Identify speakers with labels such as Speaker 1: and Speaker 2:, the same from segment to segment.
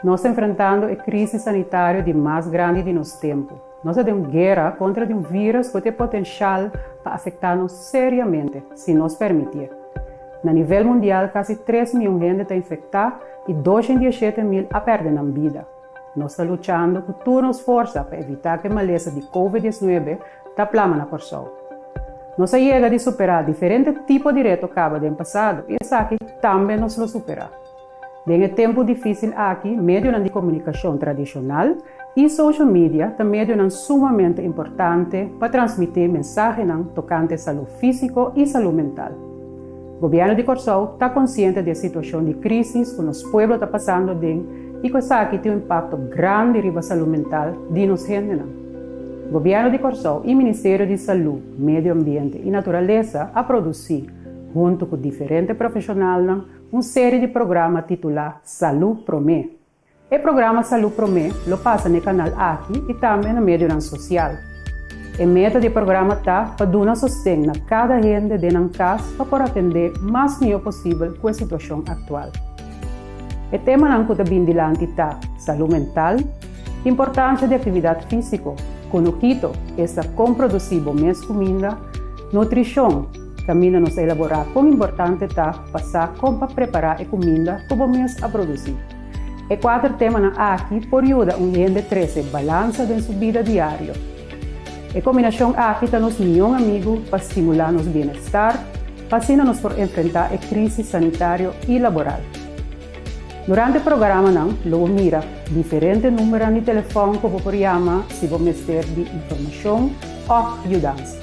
Speaker 1: Nos ta enfrentando e crisis sanitario di mas grandi di nos tempo. Nos ta den un guera contra di un virus cu ta e potencial pa afecta nos seriamente si nos permitié. Na nivel mundial casi tres mion hende ta infecta y doshen diesete mil a perde nan bida. Nos ta luchando cu tur nos forsa pa evita cu e malesa di covid diecinuebe ta plama na Corsou. Nos a yega di supera diferente tipo di reto caba den pasado y esaki tambe nos lo supera. Den e tempu dificil aki medionan di comunicacion tradicional y social media ta medionan sumamente importante pa transmite mensahenan tocante salud fisico y salud mental. Gobierno di Corsou ta consciente di e situacion di crisis cu nos pueblo ta pasando den y cu esaki tin un impacto grandi riba salud mental di nos hendenan. Gobierno di Corsou y Ministerio di Salud, Medio Ambiente y Naturalesa a produci, hunto cu diferente profesionalnan, un serie di programa titula Salud Prome. E programa Salud Prome lo pasa n'e kanal aki i tambe na medionan sosial. E meta di e programa ta pa duna sosten na kada hende den nan kas pa por atendé mas mihó posibel ku e situashon aktual. E temanan ku ta bin dilanti ta, Salú mental, Importansia di aktividat físiko, Kunukito, Esta kon produsí bo mes kuminda, Nutrishon, Kaminda nos a elaborá kon importante ta pa sa kon pa prepará e kuminda ku bo mes a produsí. E kuater temanan aki por yuda un hende trese balansa den su bida diario. E kombinashon aki ta nos mion amigu pa stimulá nos bienestar, pa asina nos por enfrentá e krísis sanitario i laboral. Durante programanan lo bo mira diferente númeronan di telefòn ku bo por yama si bo mester di informashon òf yudansa.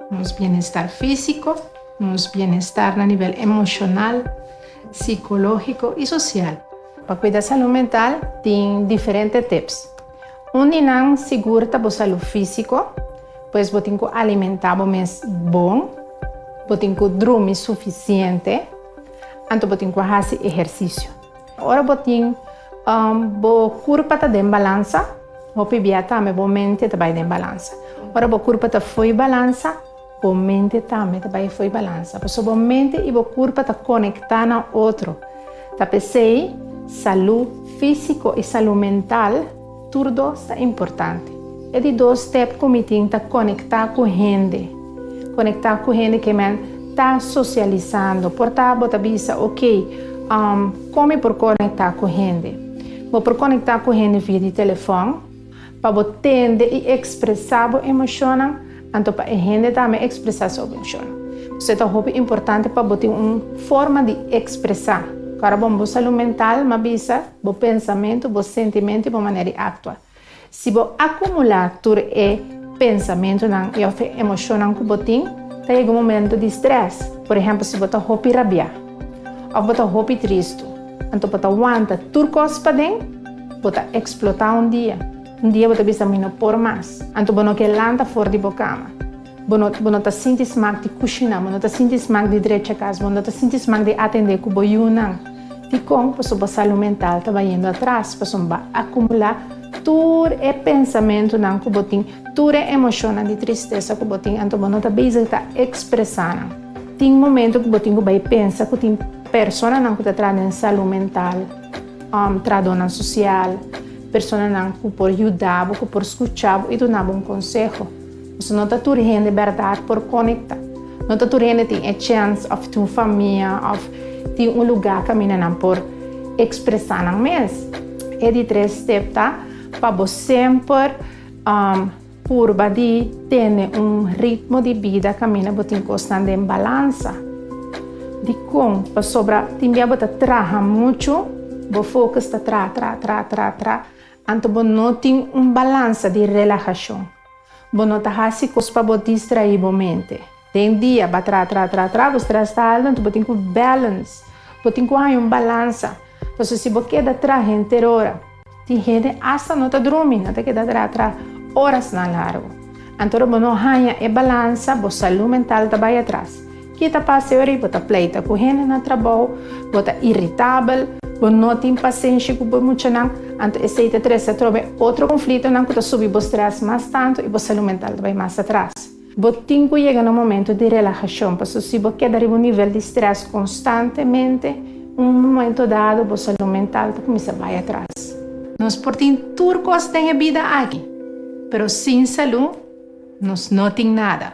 Speaker 2: Nos bienestar físiko, nos bienestar na nivel emoshonal, sikológiko i sosial. Pa kuida salú mental tin diferente tips. Un di nan sigur ta bo salú físiko, pues bo tin ku alimentá bo mes bon, bo tin ku drumi sufisiente, anto bo tin ku hasi ehersisio. Ora bo tin bo kurpa ta den balansa, hopi bia tambe bo mente ta bai den balansa. Ora bo kurpa ta foi balansa, bo mente tambe ta bai foi balansa. Pasobra bo mente i bo kurpa ta konektá na otro. Ta p'esei salú físiko i salú mental. Tur dos ta importante. E di dos step cu mi tin ta conecta cu hende. Conecta cu hende ke men ta socializando. Por ta bo ta bisa, ok, um, con mi por conecta cu hende? Bo por conecta cu hende via di telefon, pa bo tende y expresa bo emocionnan, anto pa e hende tambe expresa su emocionnan. P'esei ta hopi importante pa bo tin un forma di expresa. Cu ora bo un bo salud mental, m'a bisa. Bo pensamentu, bo sentimentu i bo manera di aktua. Si bo a kumulá tur e pensamentunan i òf e emoshonnan ku bo tin, ta yega un momentu di strès. Por ehèmpel, si bo ta hopi rabiá òf bo ta hopi tristu, anto bo ta wanta tur kos paden, bo ta eksplotá un dia. Un dia bo ta bisa, Mi no por mas! Anto bo no ke lanta for di bo kama. Bo no bo no ta sinti smak di kushiná, bo no ta sinti smak di drecha kas, bo no ta sinti smak di atendé ku bo yunan. Dikon? Pasobra bo salú mental ta bayendo atras, pasobra bo a akumulá tur e pensamentunan ku bo tin, tur e emoshonnan di tristesa ku bo tin, anto bo no ta bezig ta ekspresá nan. Tin momentu ku bo tin ku bai pensa ku tin personanan ku ta traha den salú mental, trahadónan sosial, personanan ku por yuda bo, ku por skuchá bo i dunabo un konseho. Pasobra no ta tur hende bèrdat por konekta. No ta tur hende tin e chèns òf tin un famia òf tin un lugá kaminda nan por ekspresá nan mes. E di tres step ta pa bo semper purba di tene un ritmo di bida kaminda bo tin kosnan den balansa. Dikon? Pasobra tin bia bo ta traha muchu, bo fokus ta traha, traha, traha, traha, traha Anto bo no tin un balansa di relahashon. Bo no ta hasi kos pa bo distraí bo mente. Den dia ba tra tra tra tra, bo strès ta altu, anto bo tin ku balance. Bo tin ku haña un balansa. Pasobra si bo keda tra henter ora, tin hende asta no ta drumi, no ta keda tra tra orasnan largu. Anto ora bo no haña e balansa, bo salú mental ta bai atras. Ki ta pasa ora bo ta pleita ku hende na trabou? Bo ta iritabel? Bo no tin pasenshi ku bo muchanan? Anto esei ta trese atrobe otro konflitonan ku ta subi bo strès mas tantu i bo salú mental ta bai mas atras. Bo tin ku yega na un momentu di relahashon, pasobra si bo keda riba un nivel di strès konstantemente, un momentu dado bo salú mental ta kuminsá bai atras. Nos por tin tur kos den e bida aki, pero sin salú nos no tin nada.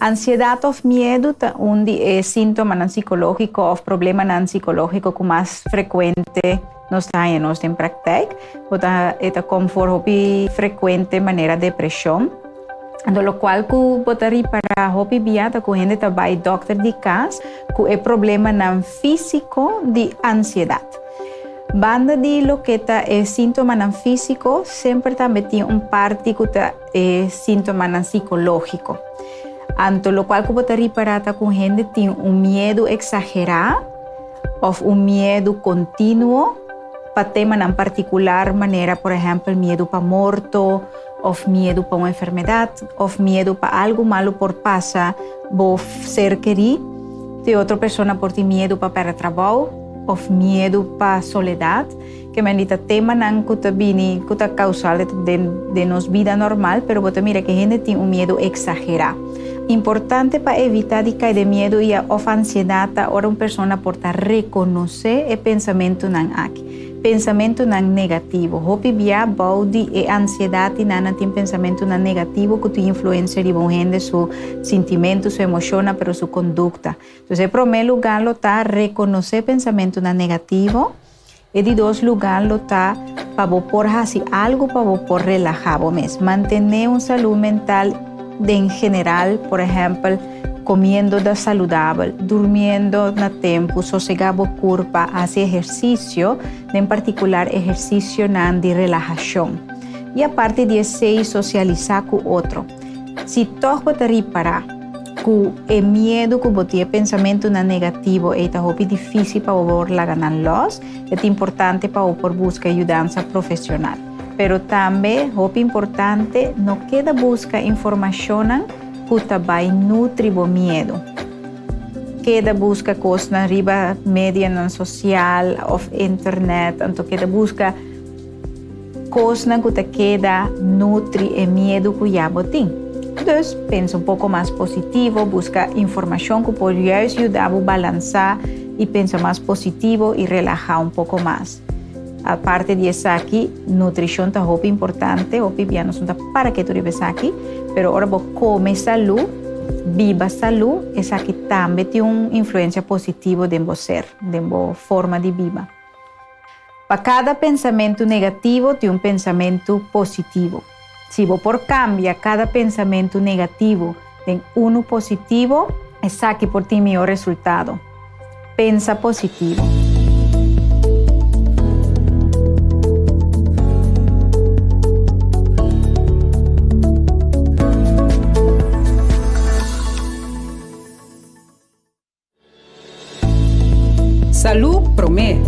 Speaker 3: Ansiedat òf miedu ta un di e síntomanan sikológiko òf problemanan sikológiko ku mas frekuente nos ta haña nos den praktèk. Bo ta e ta kom for hopi frekuente manera depreshon. Anto lokual ku bo ta ripará hopi bia ta ku hende ta bai dòkter di kas ku e problemanan físiko di ansiedat. Banda di loke ta e síntomanan físiko, semper tambe tin un parti ku ta. E sintomanan sikológiko. Anto lokual ku bo ta ripará ta ku hende tin un miedu eksagerá òf un miedu kontinuo pa temanan partikular manera por ehèmpel miedu pa morto òf miedu pa un enfermedat òf miedu pa algu malu por pasa bo ser kerí. Te otro persona por tin miedu pa pèrdè trabou òf miedu pa soledat. Ke men di ta temanan ku ta bini ku ta kausal den nos bida normal, pero bo ta mira ke hende tin un miedu eksagerá. Importante pa evitá di kai den miedu i a òf ansiedat ta ora un persona por ta rekonosé e pensamentunan aki. Pensamentunan negativo. Hopi bia bou di e ansiedat i nan nan tin pensamentunan negativo ku tin influensia riba un hende su sintimentu, su emoshonnan, pero su kondukta. Entonces e promé lugá lo ta rekonosé pensamentunan negativo. E di dos lugá lo ta pa bo por hasi algu pa bo por relahá bo mes. Mantené un salú mental den general, por ehèmpel, komiendo da saludabel, durmiendo na tempu, sosegá bo kurpa, hasi ehersisio, den partikular ehersisionan di relahashon. I aparte di esei, sosialisá ku otro. Si tòg bo ta ripará ku e miedu ku bo tin, e pensamentunan negativo ei ta hopi difísil pa bo por laga nan lòs, e ta importante pa bo por buska yudansa profesional. Pero tambe hopi importante, no keda buska informashonnan ku ta bai nutri bo miedu. Keda buska kosnan riba medianan sosial òf internet, anto keda buska. Kosnan ku ta keda nutri e miedu ku ya bo tin. Dus, pensa un poko mas positivo, buska informashon ku por juis yuda bo balansá i pensa mas positivo i relahá un poko mas. Aparte di esaki, nutrishon ta hopi importante, hopi bia nos no ta para ketu riba esaki, pero ora bo kome salú, biba salú, esaki tambe tin un influensia positivo den bo ser, den bo forma di biba. Pa kada pensamentu negativo tin un pensamentu positivo. Si bo por kambia kada pensamentu negativo den unu positivo, esaki por tin mihó resultado. Pensa positivo.
Speaker 4: Salú Promé,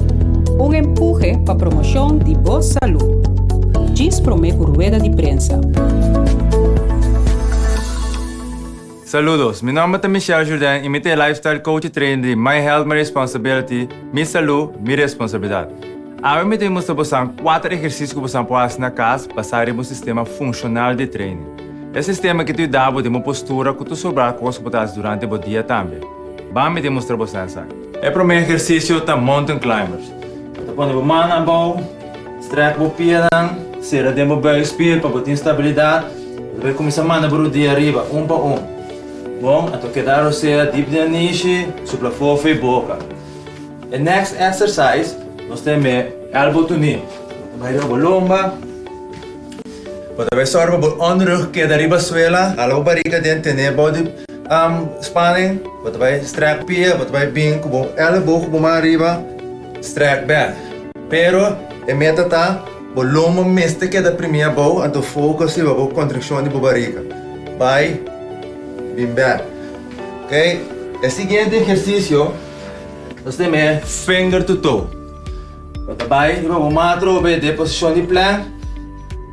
Speaker 4: Un empuje pa promoshon di bo salú. Djis Promé ku rueda di prensa.
Speaker 5: Saludos. Mi nomber ta Michel Jourdain y mi ta e lifestyle coach y trainer di My Health, My Responsibility, Mi Salud, Mi Responsabilidad. Awe mi ta bin mustra bosan 4 ehersisio cu bosan por haci na cas basa riba un sistema funcional di training. E sistema ke ta yuda bo den bo postura ku ta sobra kos ku bo ta hasi durante bo dia tambe. Ban mi demustra bo sa esaki. E promé ehersisio ta Mountain Climbers. Bo ta pone bo mannan abou, strek bo pianan, sera den bo buikspier pa bo tin stabilidat. Bo ta bai kuminsá manda bo rodia ariba un pa un. Bon, anto keda rosea dip den anishi, supla fofi boka. E next exercise nos tenbe elbow to knee. Bo ta bai riba bo lomba. Bo ta bai sòru pa bo ònrug keda riba suela. Hala bo bariga den tené bou di spanen. Bo ta bai strèk pia. Bo ta bai bin ku bo èlebo ku bo man riba strèk bèk. Pero e meta ta, bo lomba mester keda primí abou anto fokus riba bo kontrikshon di bo bariga. Bai bin bèk. Oke. E siguiente ehersisio nos tin e finger to toe. Bo ta bai i bo bo matra hopi e deposishon di plèk.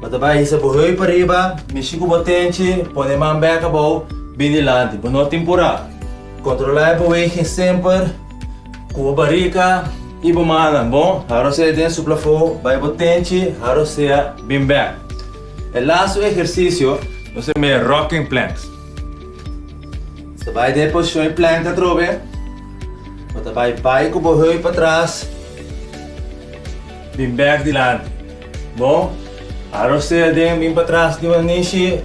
Speaker 5: Bo ta bai hisa bo hoi pariba, mishi ku bo tenchi, pone e man bèk abou, bin di lanti. Bo no tin purá. Kontrolá e beweging semper ku bo barika i bo mannan, bon? Haro sea den su plafo, bai bo tenchi, haro sea bin bèk. E lastu ehersisio nos ta yama e rocking planks. Bo ta bai den e posishon i plèk atrobe. Bo ta bai bai ku bo hurp atras, bin bèk dilanti. Bo a rosea den, bin patras di wan nishi,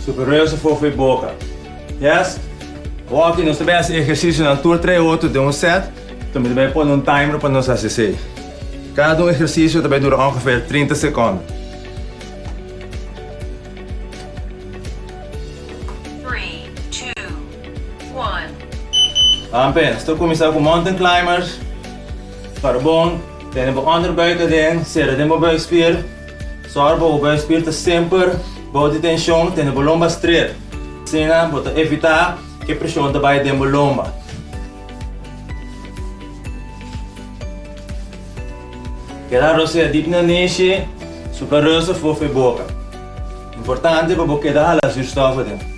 Speaker 5: super reusa for for e boka. Yes? Walking, nos ta bai hasi ehersisionan tur tres hotu den un sèt, so mi ta bai pone un timer pa nos hasi esei. Kada un ehersisio ta bai dura ongever trinta sekonden.
Speaker 6: Juan. Amper, nos ta kuminsá
Speaker 5: ku mountain climbers. Para bon tene bo onderbuik aden, sera den bo buikspier. Sòru pa bo buikspier ta semper bou di tenshon, tene bo lomba stret. Asina bo ta evitá ku e preshon ta bai den bo lomba. Keda rosea dip na nishi, suka ròs afof'e boka. Importante pa bo keda hala zuurstòf aden.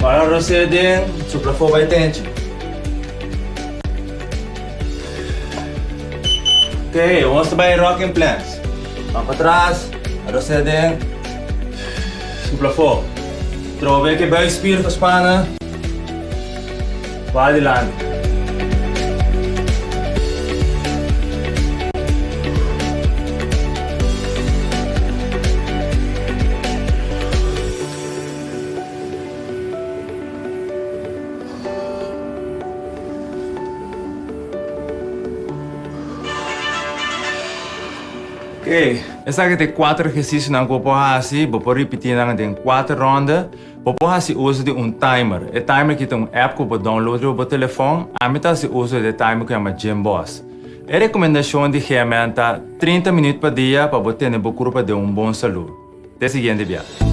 Speaker 5: Para Rosé den supla fo bay tenchi. Ok, ons ta bay rock in plans. Ban patras, Rosé den supla fo. Trobe ke buikspier ta spana. P'adilanti. Oke, esaki ta e kuater ehersisionan ku bo por hasi. Bo por ripitinan den kuater rònde. Bo por hasi uso di un timer. E timer aki ta un app ku bo download riba bo telefòn. Ami ta hasi uso di e timer ku yama Gymboss. E rekomendashon di GMN ta trinta minüt pa dia pa bo tene bo kurpa den un bon salú. Te siguiente biaha.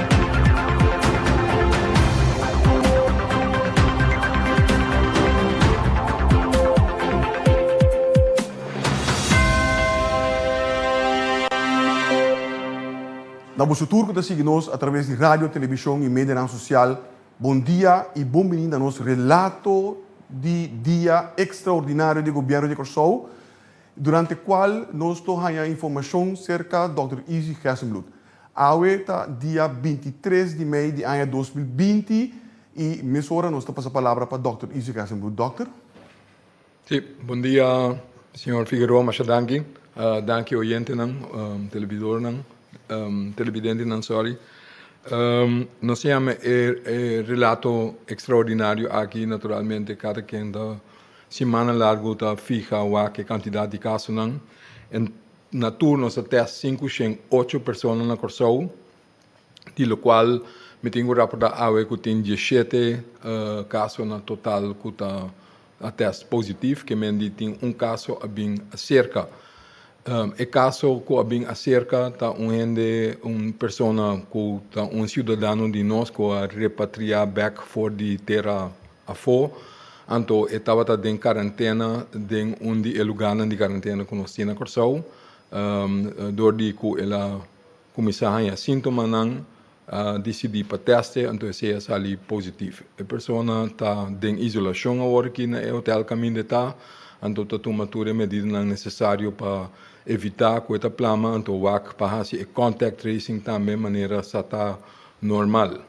Speaker 7: Na boso tur cu ta sigui nos a traves di radio, television y medianan social, bon dia y bon bini na nos relato di Dia Extraordinario di Gobierno di Corsow, durante cual nos lo haya informacion cerca Dòkter Easy Gessenbloed. Awe ta dia binti tres di mei di aña dos mil binti i mesora nos ta pasa palabra pa dòkter
Speaker 8: Easy
Speaker 7: Gassenbrood. Dòkter. Si, bon
Speaker 8: dia
Speaker 7: señor
Speaker 8: Figueroa, masha danki. Danki oyentenan, televidornan, televidentenan sorry. Nos tin yama e relato extraordinario aki naturalmente kada kende simana largu ta fiha wak e cantidad di casonan. Na tur nos a test sinku shen ocho persona na Kòrsou, di lo kual mi tin ku raportá awe ku tin dieshete kaso na total ku ta a test positief, ke men di tin un kaso a bin aserka. E kaso ku a bin aserka ta un hende, un persona ku ta un siudadano di nos ku a repatriá bèk for di tera Afo, anto e tabata den karantena den un di e lugarnan di karantena ku nos tin na Kòrsou. Dor di ku el a kuminsá haña síntomanan, a disidí pa tèste, anto esei a sali positiv. E persona ta den isolashon awor aki na e hotèl kaminda e ta, anto ta tuma tur e medidanan nesesario pa evitá ku e ta plama, anto wak pa hasi e kòntek treising tambe manera sa ta normal.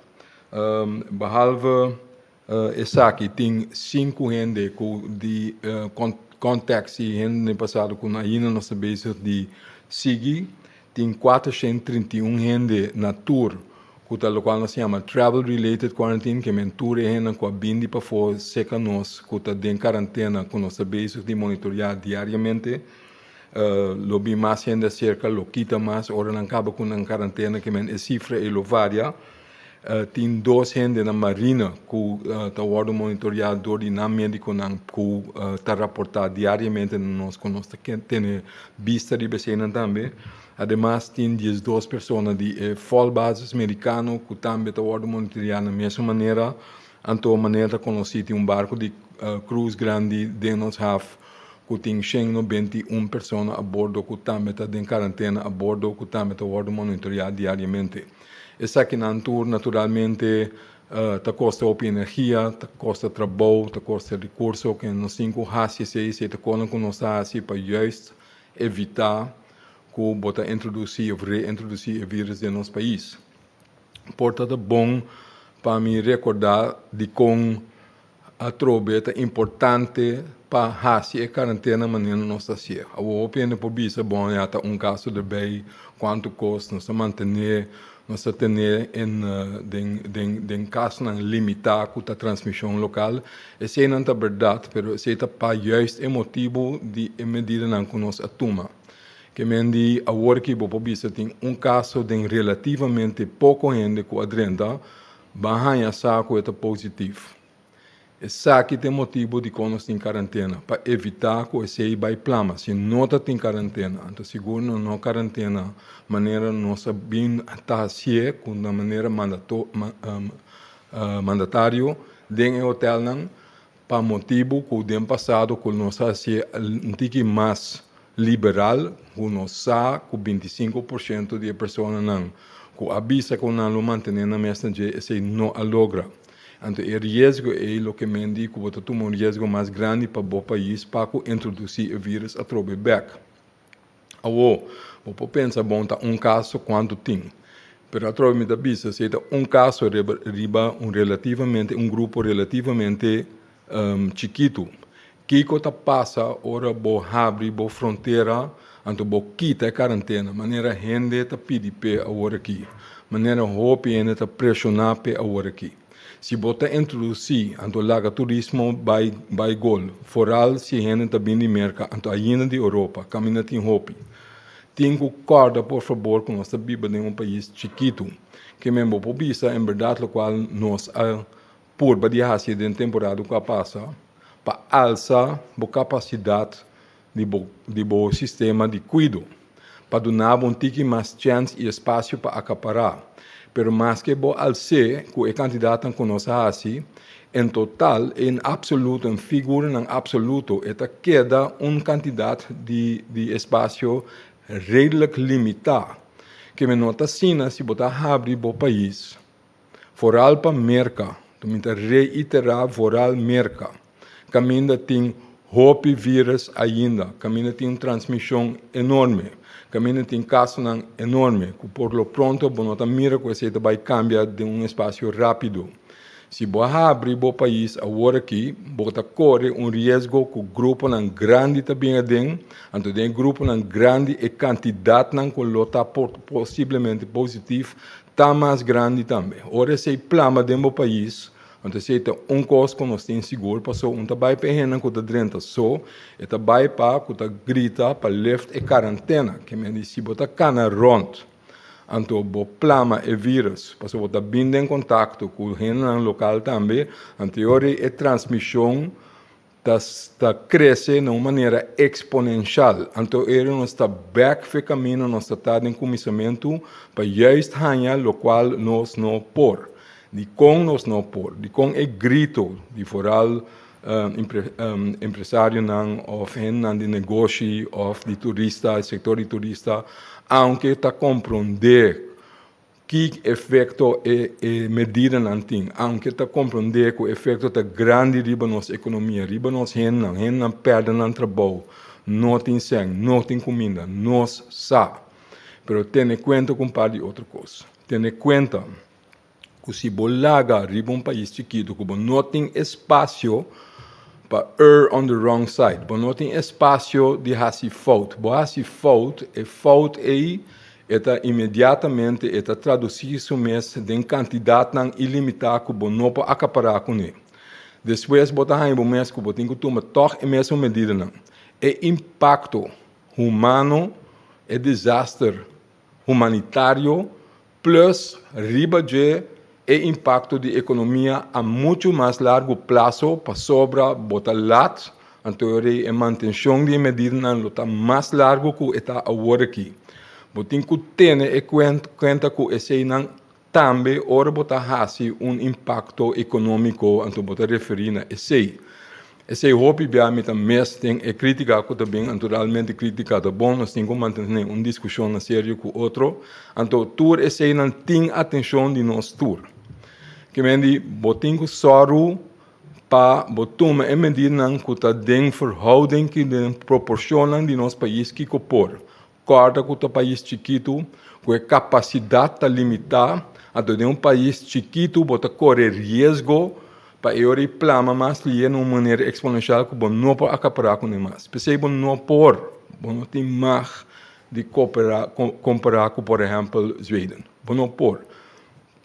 Speaker 8: Behalve esaki tin sinku hende ku di kontak si hende den pasado ku ainda no sta bezig di sigui. Tin kuater shent trinta i un hende na tur ku ta lokual nos ta yama travel related quarantine ke men tur e hendenan ku a bin di pafó serka nos ku ta den karantena ku nos ta bezig di monitorea diariamente. Lo bin mas hende aserka lo kita mas ora nan kaba ku nan karantena ke men e sifra ei lo varia. Tin dos hende na Marina cu ta wordo monitorea door di nan mediconan cu ta raporta diariamente na nos cu nos ta tene bista riba eseinan tambe. Ademas tin diesdos persona di e Fall Basis Mericano cu tambe ta wordo monitorea na mesun manera. Anto manera ta conoci tin un barco di cruz grandi den nos haf cu tin shengno benti i un persona a bordo cu tambe ta den carantena a bordo cu tambe ta wordo monitorea diariamente. Esakinan tur naturalmente ta kosta hopi energia, ta kosta trabou, ta kosta rekurso ku nos tin ku hasi esei, esei ta konan ku nos ta hasi pa juist evitá ku bo ta introdusí òf reintrodusí e vírus den nos pais. Por tabata bon pa mi rekordá dikon. Atrobe e ta importante pa hasi e karantena manera nos ta hasié. Awor hopi hende por bisa bo ya ta un gastu di bay, cuantu cos nos ta mantené, nos ta tené en den den den casnan limitá cu ta transmision local. Eseinan ta berdad, pero esei ta pa juist e motibu di e medidanan cu nos a tuma. Ke men di awor aki bo por bisa tin un caso den relativamente poco hende cu a drenta, Ban haña sa ku e ta positivo. Esaki ta e motibu di kon nos tin karantena, pa evitá ku esei bai plama. Si no ta tin karantena, anto sigur nos no karantena manera nos a bin ta hasié ku na manera mandatorio den e hotèlnan. Pa motibu cu den pasado cu nos a haci un tiki mas liberal, cu nos sa cu binti i sinku por ciento di e personanan cu a bisa cu nan lo mantene nan mesna dje esey no a logra. Anto e riesgo ey lo ke men di cu bo ta tuma un riesgo mas grandi pa bo pais pa cu introduci e virus atrobe bek. Awo, bo por pensa bon ta un kaso kuantu tin. Pero atrobe mi ta bisa si e ta un kaso riba riba un relativamente un grupo relativamente um chikitu. Kiko ta pasa ora bo habri bo frontera anto bo kita e karantena manera hende ta pidi p'e aworakí, manera hopi hende ta preshona p'e aworakí. Si bo ta introduci, anto laga turismo bai bai gol, foral si hende ta bini di Merca anto ainda di Europa, caminda tin hopi. Tin cu corda por fabor cu nos ta biba den un pais chikitu. Ke men bo por bisa en berdad locual nos a purba di haci den temporada cu a pasa pa alsa bo capacidad, di bo sistema di kuido pa duna bo un tiki mas chèns i espasio pa akapará. Pero maske bo al se ku e kandidatnan ku nos a hasi en total i en apsoluto, en figuranan apsoluto, e ta keda un kantidat di espasio redelijk limitá, ke mi no ta asina si bo ta habri bo pais, Voral pa Merka, Tuminta reitera voral Merka, kaminda tin hopi virus ainda, kaminda tin un transmishon enorme, kaminda tin kasonan enorme ku por lo pronto bo no ta mira ku esei ta bai kambia den un espasio rápido. Si bo a habri bo pais awor aki, bo ta kore un riesgo ku gruponan grandi ta bin aden, anto den e gruponan grandi e kantidatnan ku lo ta por posiblemente positif Ta mas grandi tambe. Ora esei plama den bo pais, anto esei ta un kos ku nos tin sigur paso un ta bai pa e hendenan ku ta drenta so, e ta bai pa ku ta grita pa lift e karantena, ke men di si bo ta kana rònt, anto bo plama e virus paso bo ta bin den kontakto ku hendenan lokal tambe, anto e ora e transmishon. Ta ta krese na un manera eksponenshal. Anto eri nos ta bèk fe kaminda nos ta ta den kuminsamentu pa juist haña lokual nos no por. Dikon nos no por? Dikon e grito di foral empresarionan òf hendenan di negoshi òf di turista, e sektor di turista, aunke ta komprondé Ki efekto e medidanan tin? Aunke ta komprondé ku efekto ta grandi riba nos ekonomia, riba nos hendenan, hendenan pèrdè nan trabou, no tin sèn, no tin kuminda, nos sa. Pero tene kuenta ku un par di otro kos. Tene kuenta ku si bo laga riba un pais chikitu ku bo no tin espasio pa err on the wrong side, bo no tin espasio di hasi fout. Bo hasi fout, e fout ei E ta inmediatamente e ta traducí su mes den kantidatnan ilimitá ku bo no por akapará kuné. Despues bo ta haña bo mes ku bo tin ku tuma tòg e mesun medidanan. E impakto humano, e disaster humanitario, plùs riba dje E impakto di ekonomia a muchu mas largu plaso pasobra bo ta lat, anto rei e mantenshon di e medidanan lo ta mas largu ku e ta awor aki. Bo tin ku tene e kuenta ku eseinan tambe ora bo ta hasi un impakto ekonomiko, anto bo ta referi na esei. Esei hopi bia mi ta mes den e critica cu ta bin, anto realmente critica ta bon, nos tin cu mantene un discusion serio cu otro, anto tur eseinan tin atencion di nos tur. Kimendi bo tin cu soru pa bo tuma e medidanan cu ta den verhouding cu den proporcionnan di nos pais kico por, Kòrda ku ta pais chikitu ku e kapasidat ta limitá, anto den un pais chikitu bo ta kore riesgo pa e ora i plama mas lie na un manera eksponenshial ku bo no por akapará kuné mas. P'esei bo no por, bo no tin mag di koperá kompará ku por ehèmpel Zweden. Bo no por.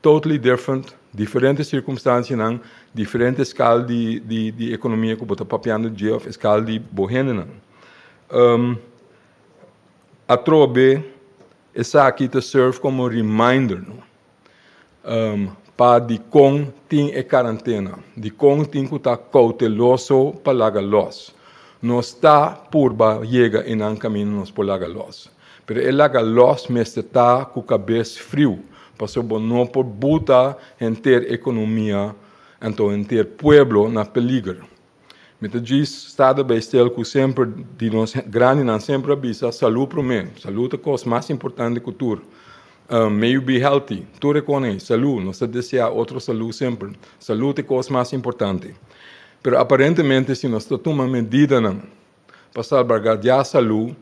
Speaker 8: Totally different, diferente sirkumstansianan, diferente skal di di di ekonomia ku bo ta papiando dje òf e skal di bo hendenan. Atrobe esaki ta serve como reminder no pa dicon tin e carantena, dicon tin cu ta cauteloso pa laga los. Nos ta purba yega enan caminda nos por laga los, pero e laga los mester ta cu cabes friu, pasobra bo no por buta henter economia, anto henter pueblo na peliger. Mi ta djis sta ta bai stil cu semper di nos grandinan semper a bisa salud prome. Salud ta cos mas importante cu tur. May you be healthy, tur e con ey, salud, nos ta desea otro salud semper. Salud e cos mas importante. Pero aparentemente si nos ta tuma medidanan. Pa salbargadiá salú,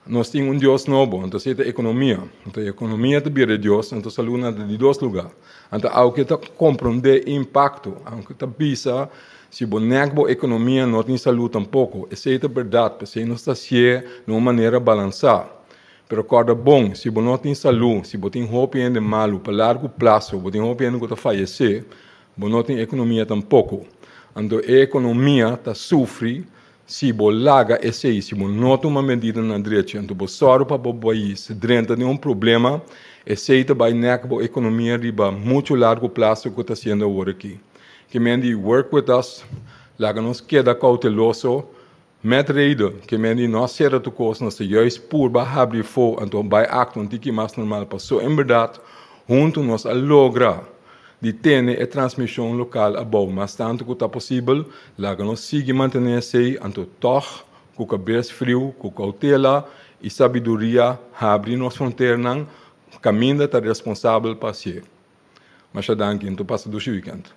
Speaker 8: nos tin un dios nobo, anto esei ta ekonomia. Anto e ekonomia ta bira e dios, anto salú na ta di dos lugá. Anto au ke ta komprondé e impakto, au ke ta bisa si bo nèk bo ekonomia no tin salú tampoko. Esei ta bèrdat, p'esei nos ta sié na un manera balansá. Pero kòrda bon, si bo no tin salú, si bo tin hopi hende malu, pa largu plaso bo tin hopi hende ku ta fayesé, bo no tin ekonomia tampoko. Anto e ekonomia ta sufri. Si bo laga esei, si bo no tuma medidanan drechi, anto bo sòru pa bo bais drenta den un problema, esei ta bai nèk bo ekonomia riba muchu largu plaso ku ta siendo awor aki. Kemendi work with us, laga nos keda kouteloso, mèt reidu, kemendi no a sera tur kos, nos ta juis purba habri efo, anto bai aktua un tiki mas normal, paso en berdat huntu nos a logra. di tene e transmishon lokal abou mas tantu ku ta posibel, laga nos sigui mantené esei, anto tòg ku kabes friu, ku koutela i sabiduria habri nos fronternan kaminda ta responsabel pa hasié. Masha danki, anto pasa dushi wikènt.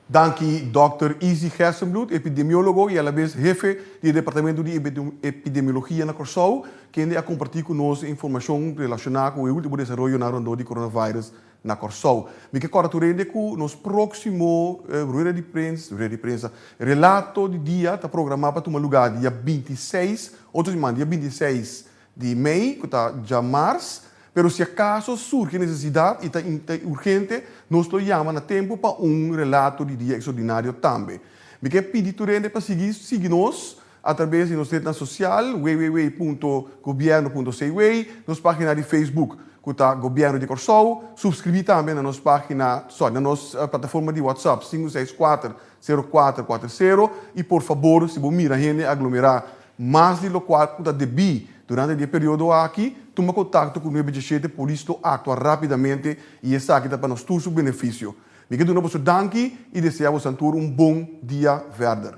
Speaker 8: Danki
Speaker 7: Dòkter Izzy Gerstenbloed, epidemiólogo i alabes hefe di e Departamentu di Epidemiologia na Kòrsou, kende a kompartí ku nos e informashon relashoná ku e último desaroyonan rondó di coronavirus Na Kòrsou. Mi ke kòrda tur hende ku nos próksimo rueda di prens, rueda di prensa, relato di dia ta programá pa tuma lugá dia binti i seis, otro siman, dia binti i seis di mei, ku ta djamars. Pero si akaso surgi nesesidat i ta urgente, nos lo yama na tempu pa un relato di dia eksordinario tambe. Mi ke pidi tur hende pa sigui sigui nos A trabes di nos netnan sosial www.gobierno.cw, nos pagina di Facebook cu ta Gobierno di Corsou, subscribi tambe na nos pagina, sorry, na nos plataforma di WhatsApp sinku seis kuater, sero kuater kuater sero y por fabor si bo mira hende aglomera mas di lokual cu ta debi durante di e periodo aki, tuma contacto cu nuebe diecisiete Polis lo actua rapidamente y esaki ta pa nos tur su beneficio. Mi ke duna boso danki y desea boso antur un bon dia verder.